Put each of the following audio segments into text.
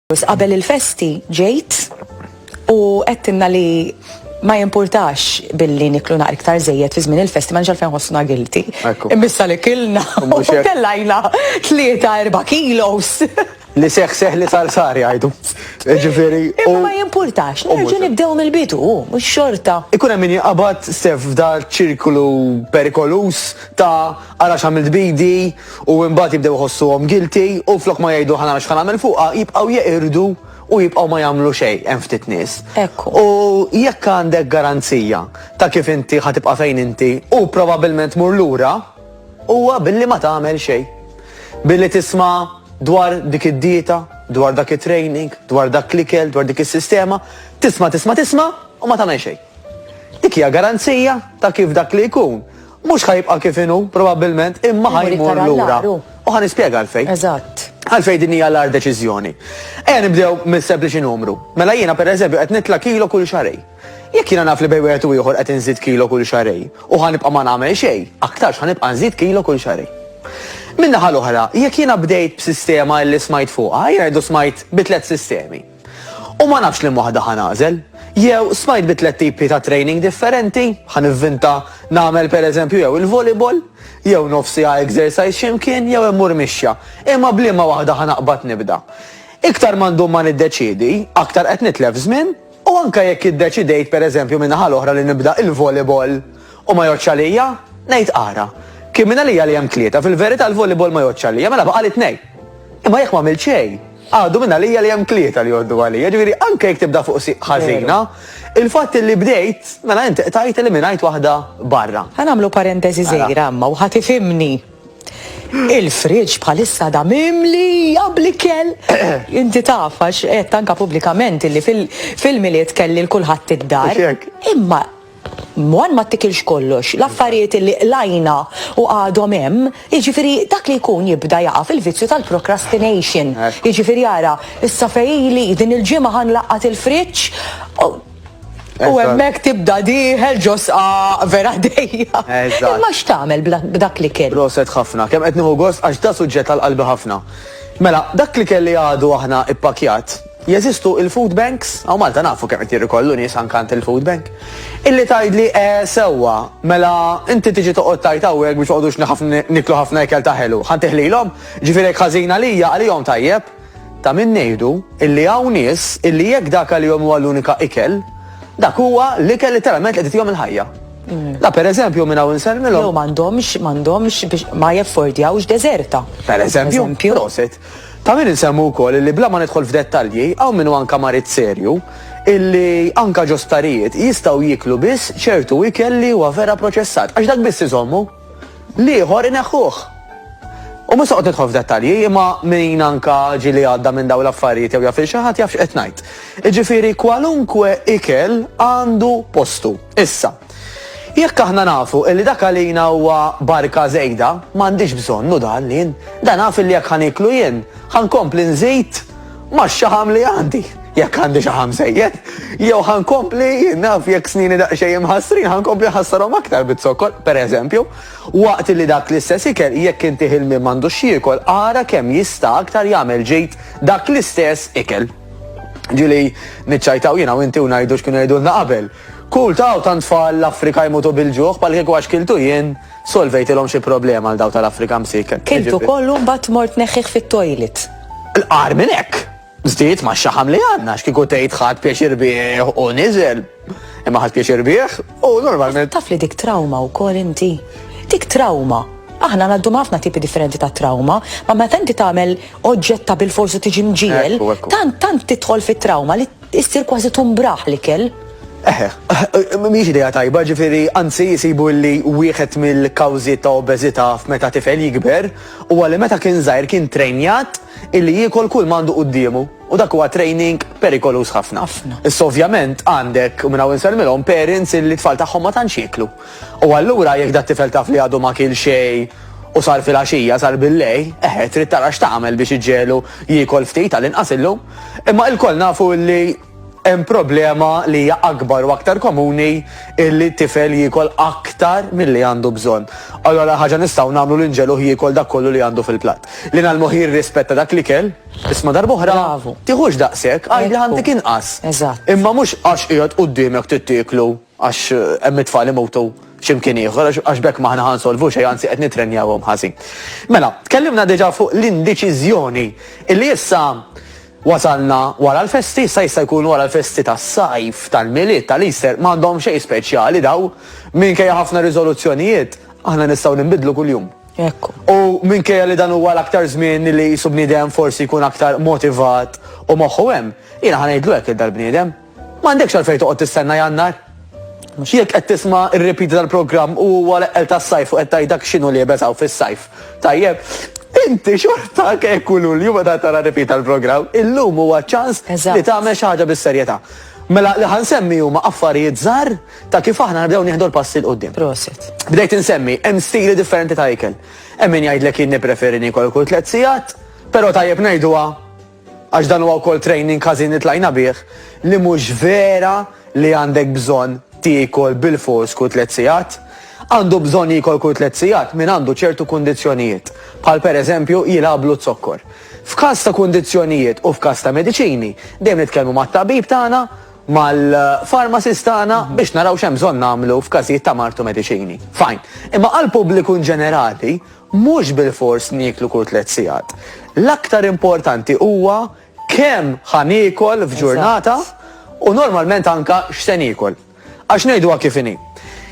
Qabel il-festi ġejt u għedtinna li ma jimpurtax billi niklu naqra iktar zejjed fi żmien il-festi ma nġal fejn ħossna gilti. Imbissa li kilna u kellajna 3-4 kilos. Li seħ seħ li sar sar jgħidu. Ġifieri. U ma jimpurtax, nerġu nibdew mill-bidu, mhux xorta. Ikun hemm min jaqbad sef f'dar ċirklu perikolus ta' Ara x'għamilt b'idi u imbagħad jibdew iħossuhom guilty u flok ma jgħidu ħa nara x'ħa nagħmel fuqha jibqgħu jeqirdu u jibqgħu ma jagħmlu xejn hemm ftit nies. Ekku. U jekk għandek garanzija ta' kif inti ħa tibqa' fejn inti u probabbilment tmur lura huwa billi ma tagħmel xejn. Billi tisma' dwar dik id-dieta, dwar dak it-training, dwar dak l-ikel, dwar dik is-sistema, tisma' tisma' tisma' u ma tagħmel xejn. Dik hija garanzija ta' kif dak li jkun Mhux ħa jibqa' kif inhu, probabbilment, imma ħa jmur lura. U ħa nispjega għalfejn. Eżatt. Għalfejn din hija l-agħar deċiżjoni. Ejja nibdew mis-sempliċi numru. Mela jiena pereżempju qed nitla' kilo kull xahrejn. Jekk jiena naf li bejn wieħed u ieħor qed inżid kilo kull xahrejn u ħa nibqa' ma nagħmel xejn, aktarx ħa nibqa' nżid kilo kull xahrejn. Min-naħa l-oħra, jekk jiena bdejt b'sistema li smajt fuqha, jiena ngħidu smajt bi tliet sistemi. U ma nafx liema waħda ħa nagħżel. Jew smajt bi tliet tipi ta' training differenti, ħa nivvinta nagħmel pereżempju jew il-volleyball, jew nofsiha exercise xi mkien jew immur mixja. Imma b'liema waħda ħa naqbad nibda? Iktar ma ndum ma niddeċiedi, aktar qed nitlef żmien u anke jekk iddeċidejt pereżempju min-naħa l-oħra li nibda il-volleyball u ma jgħoddx għalija, ngħid ara, kien minn għalija li hemm tlieta, fil-verità l-volleyball ma jgħoddx għalija, mela baqgħli tnejn. Imma jekk m'għamilt xejn, Għadu minn għalija li hemm tlieta li jgħoddu għalija, ġifieri anke jekk tibda fuq siq ħażina, il-fatt li bdejt, mela int qtajt eliminajt waħda barra. Ħa nagħmlu parentesi żgħira imma u ħa tifhimni. Il-friġġ bħalissa għadha mimlija bl-ikel. Inti taf għax qed anke pubblikament illi fil-Milied kelli l-kulħadd id-dar. Imma One ma ttikilx kollox, l-affarijiet li qlajna u għadhom hemm, jiġifieri dak li jkun jibda jaqa' fil-vizzju tal-procrastination. Jiġifieri ara, issa fejn ili, din il-ġimgħa ħa nlaqqat il-friġġ u hemmhekk tibda dieħel ġo sqaq vera dejjaq. Imma x'tagħmel b'dak l-ikel? Proset ħafna, kemm qed nieħu gost għax da suġġett għal qalbi ħafna. Mela, dak l-ikel li għadu aħna ippakkjat, Jeżistu il-food banks, hawn Malta nafu kemm qed jirrikollu nies anke għand il-food bank, illi tgħidli eh sewwa, mela inti tiġi toqgħod tgħid hawnhekk biex noqogħdux nħaf niklu ħafna ikel ta' ħelu, ħa ntih lilhom? Jiġifieri jekk ħażin għalija, għalihom tajjeb? Ta' min ngħidu illi hawn nies illi jekk dak għalihom huwa l-unika ikel, dak huwa l-ikel literalment li qed itihom il-ħajja. La per eżempju minn hawn insellmilhom. Jew m'għandhomx m'għandhomx biex ma jeffordjawx deżerta. Per eżempju, prosit. Ta' min insemmu wkoll illi bla ma nidħol f'dettalji, hawn min hu anke marid serju, illi anke ġo sptarijiet jistgħu jieklu biss ċertu ikel li huwa vera proċessat, għax dak biss iżommu. L-ieħor ineħħuh. U mhux se noqgħod nidħol f'dettalji, imma min anke ġieli għadda minn dawn l-affarijiet jew jaf lil xi ħadd jaf x'qed ngħid. Jiġifieri kwalunkwe ikel għandu postu. Issa, jekk aħna nafu li dak għalina huwa barka żejda, ma għandix bżonn hu dan li da naf li jekk ħa nieklu jien, ħa nkompli nżid max-xaħam li għandi, jekk għandi xaħam żejjed, jew ħa nkompli jien naf jekk snini daqsxejn imħassrin ħa nkompli nħassarhom aktar bit-zokkor, pereżempju, waqt li dak l-istess ikel jekk inti ħilmien m'għandux jiekol, ara kemm jista' aktar jagħmel ġid dak l-istess ikel. Ġili niċċajtaw jiena u inti u ngħidu x'kienu jgħidulna qabel. Kull taw tan tfal l-Afrika jmutu bil-ġuħ bħal kieku għax kiltu jien solvejtilhom xi problema għal daw tal-Afrika msik. Kiltu kollu mbagħad mort neħħih fit-toilet. L-qar minn hekk. Żdied ma' xaħam li għandna x'kieku tgħid ħadd pjaċir bih u niżel. Imma ħadd pjaċir bih u normalment. Taf li dik trauma wkoll inti. Dik trauma. Aħna għaddu ħafna tipi differenti ta' trauma, ma meta inti tagħmel oġġetta bil-forsu tiġi mġiel, tant tant tidħol fit-trauma li issir kważi tumbraħ li kell. Eħe, eh, eh, miex ideja tajba, ġifiri, anzi jisibu li wieħed mill-kawzi ta' obezita f'meta tifel jikber, u għalli meta kien zaħir kien trenjat illi jiekol kull m'għandu quddiemu u dak huwa training perikoluż ħafna. Ħafna. Issa ovvjament għandek u minn hawn insellmilhom parents illi t-tfal tagħhom ma tantx jieklu. U allura jekk dat-tifel taf li għadu ma kiel xejn u sar filgħaxija, sar billejl, eħe trid tara x'tagħmel biex iġġegħlu jiekol ftit għall-inqas illum. Imma ilkoll nafu illi Hemm problema li hija akbar u aktar komuni illi tifel jiekol aktar milli għandu bżonn. Allura l-agħar ħaġa nistgħu nagħmlu li nġegħluh jiekol dak kollu li għandu fil-platt. Li ngħallmuh jirrispetta dak l-ikel, isma' darb'oħra, tiħux daqshekk, għidli ħantik inqas. Imma mhux għax qiegħed qudiemek trid tieklu. Għax hemm it-tfal imutu x'imkien ieħor, għax b'hekk m'aħna ħa nsolvu xejn, anzi qed nittrenjawhom ħażin. Mela, tkellimna diġà fuq l-indeċiżjoni illi issa wasalna wara l-festi, issa jista' jkun wara l-festi tas-sajf, tal-Milied, tal-Easter, m'għandhom xejn speċjali daw, minkejja ħafna riżoluzzjonijiet, aħna nistgħu ninbidlu kuljum. Hekk hu. U minkejja li dan huwa l-aktar żmien li qisu bniedem forsi jkun aktar motivat u moħħu hemm, jiena ħa ngħidlu hekk lil dal-bniedem. M'għandekx għalfejn toqgħod tistenna Jannar. Jekk qed tisma' r-repeat tal-programm u huwa l-eqqel tas-sajf u qed tgħid dak x'inhu liebes hawn fis-sajf, tajjeb, inti xorta anke jekk hu Lulju meta tara r-repeat tal-programm, illum huwa ċ-ċans li tagħmel xi ħaġa bis-serjetà. Mela li ħa nsemmi huma affarijiet żgħar ta' kif aħna nibdew nieħdu l-passi 'l quddiem. Prosit. Bdejt insemmi, hemm stili differenti ta' ikel. Hemm min jgħidlek jien nippreferi niekol kull tliet sigħat, però tajjeb ngħiduha Għax dan huwa wkoll training ħażin li tlajna bih li mhux vera li għandek bżonn tiekol bilfors kull tliet sigħat. Għandu bżonn jiekol kull tliet sigħat min għandu ċertu kundizzjonijiet, bħal per eżempju jilgħablu z-zokkor. F'każ ta' kundizzjonijiet u f'każ ta' mediċini, dejjem nitkellmu mat-tabib tagħna, mal-pharmacist tagħna biex naraw x'hemm bżonn nagħmlu f'każijiet ta' mard u mediċini. Fine. Imma għall-pubbliku inġenerali, Mhux bilfors nieklu kull tliet sigħat. L-aktar importanti huwa kemm ħa niekol f'ġurnata u normalment anke x'se niekol. Għax ngħiduha kif inhi.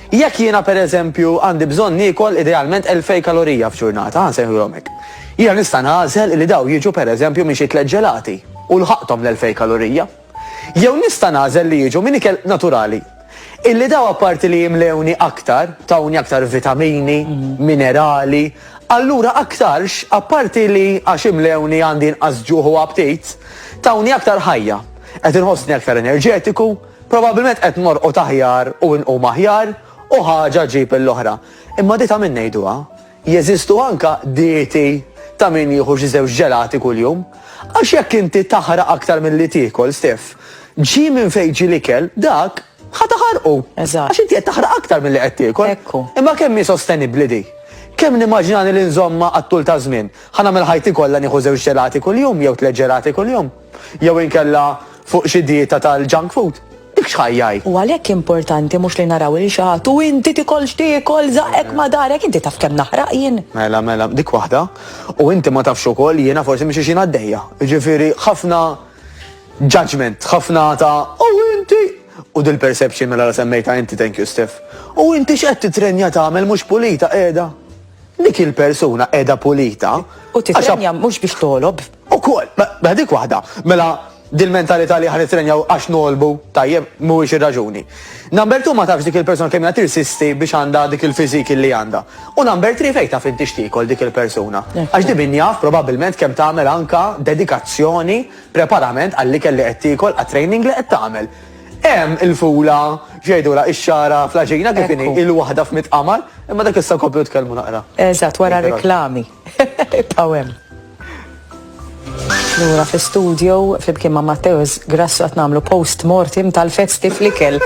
Jekk jiena pereżempju għandi bżonn niekol idealment elfejn kalorija f'ġurnata, ħa nsejħulhom hekk, jiena nista' nagħżel li dawn jiġu pereżempju minn xi tliet ġelati u lħaqthom l-elfejn kalorija. Jew nista' nagħżel li jiġu minn ikel naturali. Illi dawn apparti li jimlewni aktar, tawni aktar vitamini, minerali, allura aktarx, apparti li għax imlewni għandi inqas ġuħ u aptit, tawni aktar ħajja. Qed inħossni aktar enerġetiku, probabbilment qed norqod aħjar u nqum aħjar u ħaġa ġġib l-oħra. Imma di ta' min ngħiduha? Jeżistu anke dieti ta' min jieħu xi żewġ ġelati kuljum. Għax jekk inti taħraq aktar milli tiekol, Steff, ġie minn fejn ġie l-ikel, dak, ħa taħarqu. Eżatt. Għax inti qed taħraq aktar milli qed tiekol. Hekk hu. Imma kemm hi sostenibbli di? Kemm nimmaġinani li nżommha għat-tul taż-żmien? Ħa nagħmel ħajti kollha nieħu żewġ ġelati kuljum jew tliet ġelati kuljum? Jew inkella fuq xi dieta tal-junk food? Dik x'ħajja hi? U għalhekk importanti mhux li naraw lil xi ħadd u inti tikol x'tiekol, żaqqek ma' darek, inti taf kemm naħraq jien? Mela, mela, dik waħda. U inti ma tafx ukoll jiena forsi minn xi xhiena għaddejja. Jiġifieri ħafna judgement, ħafna ta' u inti! U dil-perception mela la semmejtha inti, thank you Steph. U inti x'qed titrenja tagħmel mhux pulita qiegħda? Dik il-persuna qiegħda pulita. U titrenja mhux biex togħlob. Ukoll, mela dik waħda, mela dil-mentalità li aħna nittrenjaw għax ngħolbu, tajjeb, mhuwiex ir-raġuni. Number two ma tafx dik il-persuna kemm hija tirsisti biex għandha dik il-physique illi għandha. U number three fejn taf inti x'tiekol dik il-persuna. Għax di min jaf probabbilment kemm tagħmel anke dedikazzjoni, preparament għall-ikel li qed tiekol, għat-training li qed tagħmel. Hemm il-fula, x'jgħidulha, ix-xagħra fl-għaġina kif inhi, il-waħda f'mitt qamar, imma dak issa nkomplu nitkellmu naqra. Eżatt, wara r-reklami. Ibqgħu hemm. Lura fi studio flimkien ma' Matteus Grassu qed nagħmlu post mortem tal-festi flikel.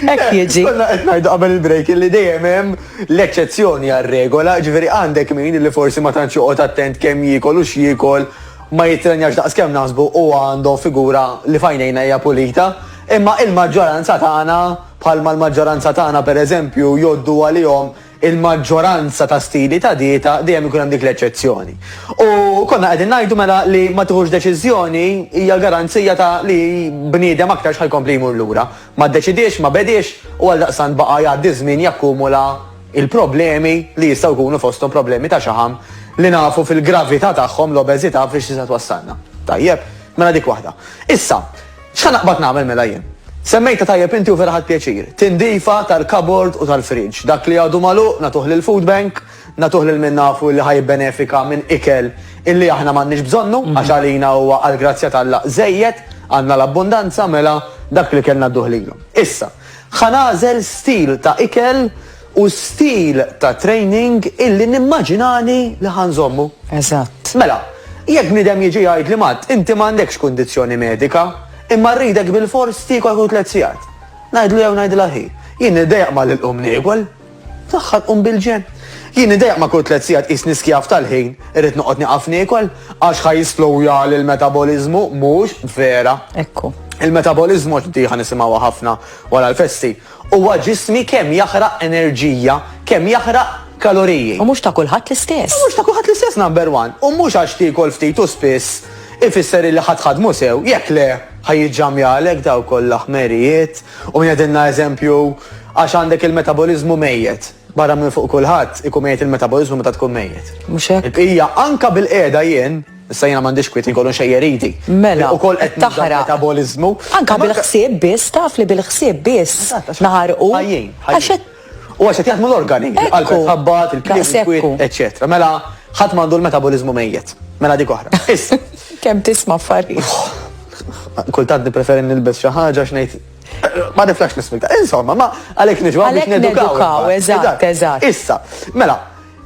Hekk eh, jiġi. Konna qed ngħidu qabel il-break li dejjem hemm l-eċċezzjoni għar-regola, ġifieri għandek min li forsi ma tantx joqgħod attent kemm jiekol u x'jiekol ma jitrenjax daqs kemm naħsbu u għandu figura li fajnejna hija pulita, imma il-maġġoranza tagħna bħalma l-maġġoranza tagħna pereżempju joddu għalihom il-maġġoranza ta' stili ta' dieta dejjem ikun hemm dik l-eċċezzjoni. U konna qegħdin ngħidu mela li ma tiħux deċiżjoni hija garanzija ta' li bniedem aktarx ħa jkompli jmur lura. Ma ddeċidiex, ma bediex u għaldaqstant baqa' jgħaddi ż-żmien jakkumula l-problemi li jistgħu jkunu fosthom problemi ta' xaħam li nafu fil-gravità tagħhom l-obeżità fiex tista' twassalna. Tajjeb, mela dik waħda. Issa, X'ħa naqbad nagħmel mela jien? Semmejtha tajjeb inti u vera ħadt pjaċir. Tindifa tal-kabord u tal-fridge. Dak li għadu magħluq nagħtuh lill-food bank, nagħtuh lil min nafu illi ħa jibbenefika minn ikel illi aħna m'għandniex bżonnu għax għalina huwa għall-grazzja t'Alla żejjed, għandna l-abbundanza, mela dak li ikel ngħadduh lilhom. Issa, ħa nagħżel stil ta' ikel u stil ta' training illi nimmaġinani li ħa nżommu. Eżatt. Mela, jekk bniedem jiġi jgħidli Matt, inti m'għandekx kundizzjoni medika, imma rridek bilfors tiekol kull tliet sigħat. Ngħidlu jew ngħidilha hi, jien nidejjaq malli nqum niekol. Fl-aħħar nqum bil-ġenn. Jien nidejjaq ma' kull tliet sigħat qisni skjav tal-ħin, irrid noqgħod nieqaf niekol, għax ħa jisslowjali l-metaboliżmu, mhux vera. Ekku. Il-metaboliżmu għax di ħa nisimgħuha ħafna wara l-festi, Huwa ġismi kemm jaħraq enerġija, kemm jaħraq kaloriji. U mhux ta' kulħadd l-istess. U mhux ta' kulħadd l-istess number one. U mhux għax tiekol ftit u spiss ifisser illi ħa tħaddmu sew, jekk le ħa jiġġamjalek dawk kollha ħmerijiet u min qegħdilna eżempju għax għandek il-metaboliżmu mejjet. Barra minn fuq kulħadd ikun mejjet il-metaboliżmu meta tkun mejjet. Mhux hekk? Il-bqija anke bil-qiegħda jien, issa jiena m'għandix kwiet inkunu nxejjer idi. Mela, taħraq. Metaboliżmu. Anke bil-ħsieb biss, taf li bil-ħsieb biss naħarqu. Ħajjin. Għax qed. U għax qed jaħdmu l-organi. Il-qalb qed tħabbat, il-klieb ikwit, eċċetera. Mela, ħadd m'għandu l-metaboliżmu mejjet. Mela dik oħra. Issa. Kemm tisma' affarijiet. Kultant nippreferi nilbes xi ħaġa x'ngħid. Ma niflax nismita. Insomma, ma għalek nġu għalek nedukaw. Eżatt, eżatt. Issa, mela,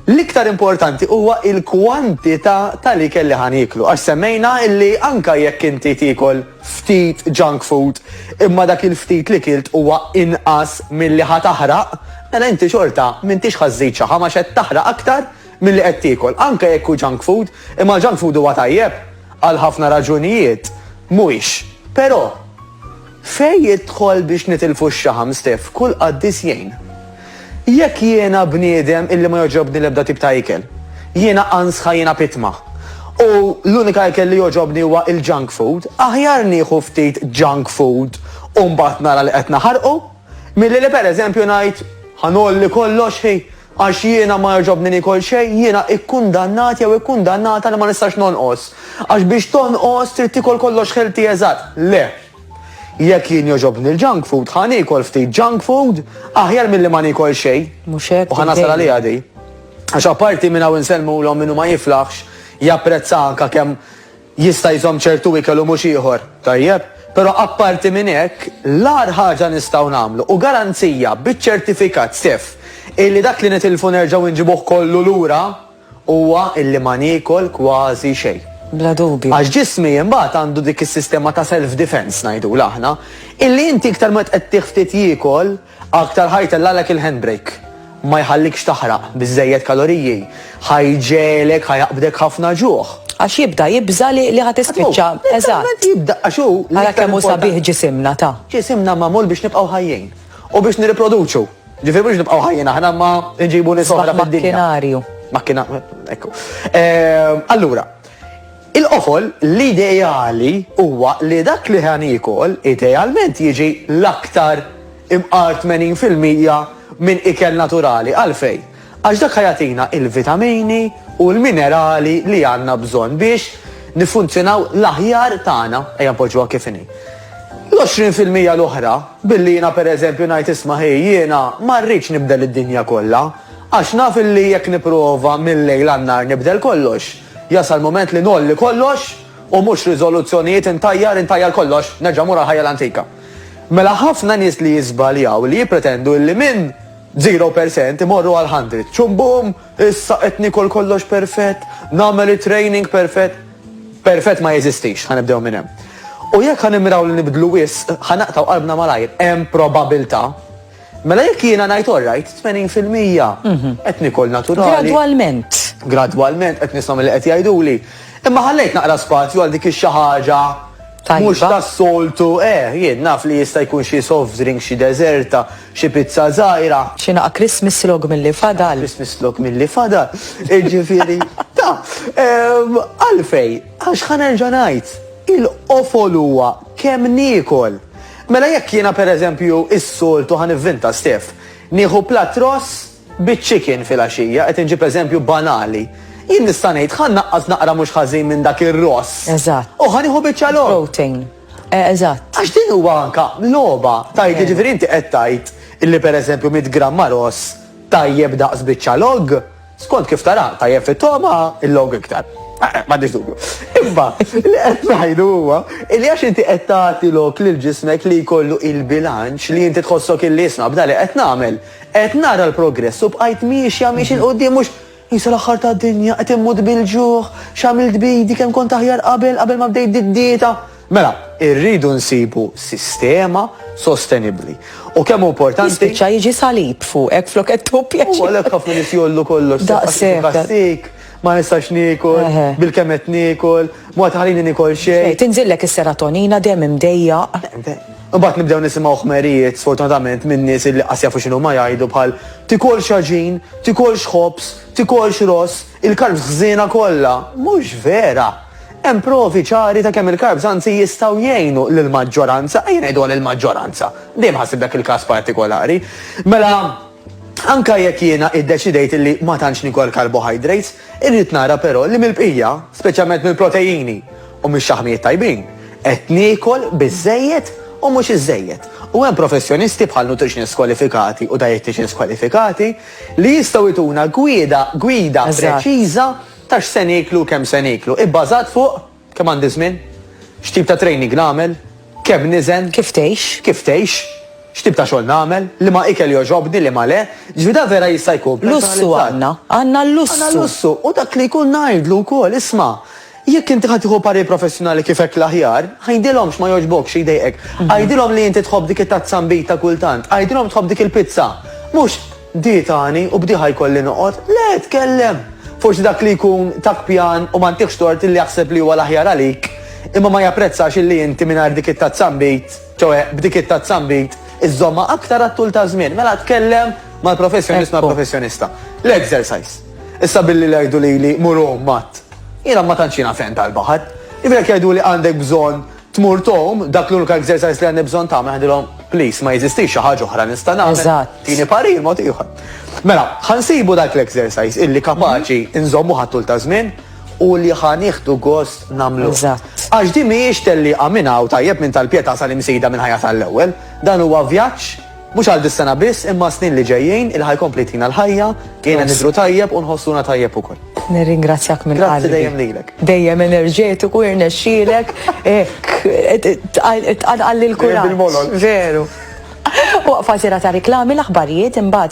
L-iktar importanti huwa il-kwantità tal-ikel li ħan jiklu. Għax semmejna illi anka jekk inti tikol ftit junk food, imma dak il-ftit li kilt huwa inqas mill-li ħataħraq, mela inti xorta mintix ħażżid xaħa ma xed taħraq aktar milli qed tiekol, anke jekk hu junk food, imma l-junk food huwa tajjeb għal ħafna raġunijiet, mhuwiex. Però, fejn jidħol biex nitilfu x-xaħam, Steff, kull qaddis jgħin. Jekk jiena bniedem illi ma jogħġobni l-ebda tip ta' ikel, jiena ansħa, jiena pitma, u l-unika ikel li jogħġobni huwa l-junk food, aħjar nieħu ftit junk food u mbagħad nara li qed naħarqu, milli li pereżempju ngħid, ħa ngħolli kollox, hi, Għax jiena ma jogħġobni niekol xejn, jiena ikkundannat jew ikkundannata li ma nistax nonqos. Għax biex tonqos trid tiekol kollox healthy eżatt. Le. Jekk jien jogħġobni l-junk food, ħa niekol ftit junk food aħjar milli ma niekol xejn. Mhux hekk? U ħa nasal għaliha di. Għax apparti minn hawn insellmulhom min hu ma jiflaħx japprezza anke kemm Jista' jżomm ċertu ikel u mhux ieħor, tajjeb, però apparti minn hekk, l-agħar ħaġa nistgħu nagħmlu u garanzija biċ-ċertifikat sef illi dak li nitilfu nerġgħu nġibuh kollu lura huwa illi ma niekol kważi xejn. Bla dubju. Għax ġismi imbagħad għandu dik is-sistema ta' self-defense ngħidulha aħna, illi inti iktar ma tqed tih ftit jiekol, Aktar ħa jtellgħalek il-handbrake. Ma jħallikx taħraq biżżejjed kaloriji. Ħa jġegħlek, ħa jaqbdek ħafna ġuħ. Għax jibda jibża' li li ħa tispiċċa. Eżatt. Jibda għax hu. Ara kemm hu sabiħ ġisimna, ta. Ġisimna magħmul biex nibqgħu ħajjin. U biex nirriproduċu. Ġifieri mhux nibqgħu ħajjin aħna imma nġibu nies oħra fid-dinja. Sbaħ makkinarju. Makkina, ekku. Allura. Il-qofol, l-ideali, huwa li dak li ħa niekol idealment jiġi l-aktar imqar 80 fil-mija minn ikel naturali. Għalfejn? Għax dak ħa jagħtina l-vitamini u l-minerali li għandna bżonn biex niffunzjonaw l-aħjar tagħna, ejja npoġġuha kif inhi. L-20 fil-mija l-oħra, billi jiena per eżempju ngħid isma' hi jiena ma rridx nibdel id-dinja kollha, għax naf illi jekk nipprova mil-lejl għan-nhar nibdel kollox, Jasal mument li ngħolli kollox u mhux riżoluzzjonijiet intajjar intajjar kollox, nerġa' mmur għall-ħajja l-antika. Mela ħafna nies li jiżbaljaw li jippretendu illi minn zero percent imorru għal hundred. Ċumbum! Issa qed niekol kollox perfett, nagħmel it-training perfett. Perfett ma jeżistix, ħa nibdew minn hemm. U jekk ħa nimmiraw li nibdlu wisq, ħa naqtgħu qalbna malajr. Hemm probabiltà. Mela jekk jiena ngħid all right, 80 fil-mija qed nikol naturali. Gradwalment. Gradwalment qed nisma' milli qed jgħiduli. Imma ħallejt naqra spazju għal dik ix-xi ħaġa Mhux tas-soltu, eh, jien naf li jista' jkun xi soft drink, xi deżerta, xi pizza żgħira. Xi naqa' Christmas log milli fadal. Christmas log milli fadal. Iġifieri, ta' għalfej, għax ħanerġa' ngħid, il-qofol huwa kemm niekol. Mela jekk jiena per eżempju is-soltu ħa nivvinta Steph, nieħu platt ross biċ-chicken filgħaxija, qed inġib eżempju banali, jien nista' ngħid ħa nnaqqas naqra mhux ħażin minn dak ir-ross. Eżatt. U ħa nieħu biċċa logħob. Protein. Eżatt. Għax din huwa anka logħba, tgħid jiġifieri inti qed tgħid illi per eżempju mitt gramma ross tajjeb daqs biċċa logħob? Skont kif tara, tajjeb fit-togħma, il-logħob iktar. Eh, eh, m'għandix dubju. Imma li qed ngħidu huwa li għax inti qed tagħti lok lil ġismek li jkollu il-bilanċ li inti tħossok illi isma' b'da li qed nagħmel. Qed nara l-progress u bqajt miexja miex il qudiem mhux jisa l-aħħar ta' dinja qed immut bil-ġuħ, x'għamilt bidi kemm kont aħjar qabel qabel ma bdejt did-dieta. Mela, irridu nsibu sistema sostenibbli. U kemm hu importanti. Jispiċċa jiġi salib fuqek flok qed tħu pjaċir. U għalhekk ħafna nies jollu kollox. Daqshekk. Daqsik, ma nistax niekol, bil-kemm qed niekol, mod ħalini nikol xejn. Tinżillek is-serotonina dejjem imdejjaq. Imbagħad nibdew nisimgħu ħmerijiet sfortunatament minn nies li qas jafu x'inhu ma jgħidu bħal tikolx ħaġin, tikolx ħobż, tikolx ross, il-karb ħżiena kollha. Mhux vera. Hemm provi ċari ta' kemm il-carbs anzi jistgħu jgħinu lill-maġġoranza, ejja ngħiduha lill-maġġoranza, dejjem ħassib dak il-każ partikolari, mela anke jekk jiena iddeċidejt illi ma tantx nikol carbohydrates, irrid nara però li mill-bqija, speċjalment mill-protejini u mix-xaħmijiet tajbin, qed niekol biżżejjed u mhux iżżejjed. U hemm professjonisti bħal nutritionists kwalifikati u dietitians kwalifikati li jistgħu jtuna gwieda gwida preċiża. ta' x'se nieklu u kemm se nieklu, ibbażat fuq, kemm għandi żmien, x'tip ta' training nagħmel, kemm niżen, Kif tgħix? kif tgħix, x'tip ta' xogħol nagħmel, liema ikel jogħġobni, liema le, jiġifieri dan vera jista' jkun personalizzat. Lussu għandna, għandna l-lussu. Għandna l-lussu u dak li jkun ngħidlu wkoll, isma', jekk inti ħa tieħu parir professjonali kif hekk l-aħjar, għidilhom x'ma jogħġbokx, xi jdejqek, għidilhom li inti tħobb dik it-tazza nbid ta' kultant, għidilhom tħobb dik il-pizza, mhux Di tani u b'diha jkolli noqgħod? Le, tkellem! Forsi dak li jkun tak pjan u ma ntihx tort illi jaħseb li huwa l-aħjar għalik, imma ma japprezzax illi inti mingħajr dik it-tazzambit, ċoe, b'dik it-tazzambit, iżżommha aktar għat-tul taż-żmien. Mela tkellem mal-professjonist, mal-professjonista. L-exercise. Issa billi jgħidu lili mur għum mat. Jiena ma tantx jiena ferm tal-baħar. Jifieri jekk jgħiduli għandek bżonn Tmur tgħum, dak l-unika exercise li għandi bżonn tagħmel, ngħidilhom, please, ma jeżistix xi ħaġa oħra nista' nagħmel. Eżatt. Tini parir mod ieħor. Mela, ħa nsibu dak l-exercise illi kapaċi nżommuh għat-tul ta' żmien u li ħa nieħdu gost nagħmluh. Eżatt. Għax din mhijiex tellieqa minn hawn tajjeb minn tal-Pietà sal-Imsida mill-ħajja tal-ewwel. Dan huwa vjaġġ Mhux għal dis-sena biss imma għas-snin li ġejjin, il-ħa jkompli jtina l-ħajja, jgħinna nidhru tajjeb u nħossuna tajjeb ukoll. Nirringrazzjak minn qalbi. Grazzi dejjem lilek. Dejjem enerġetiku, irnexxielek, hekk, tqanqalli l-kuraġġ. Veru. Waqfa sira ta' riklami, l-aħbarijiet imbagħad.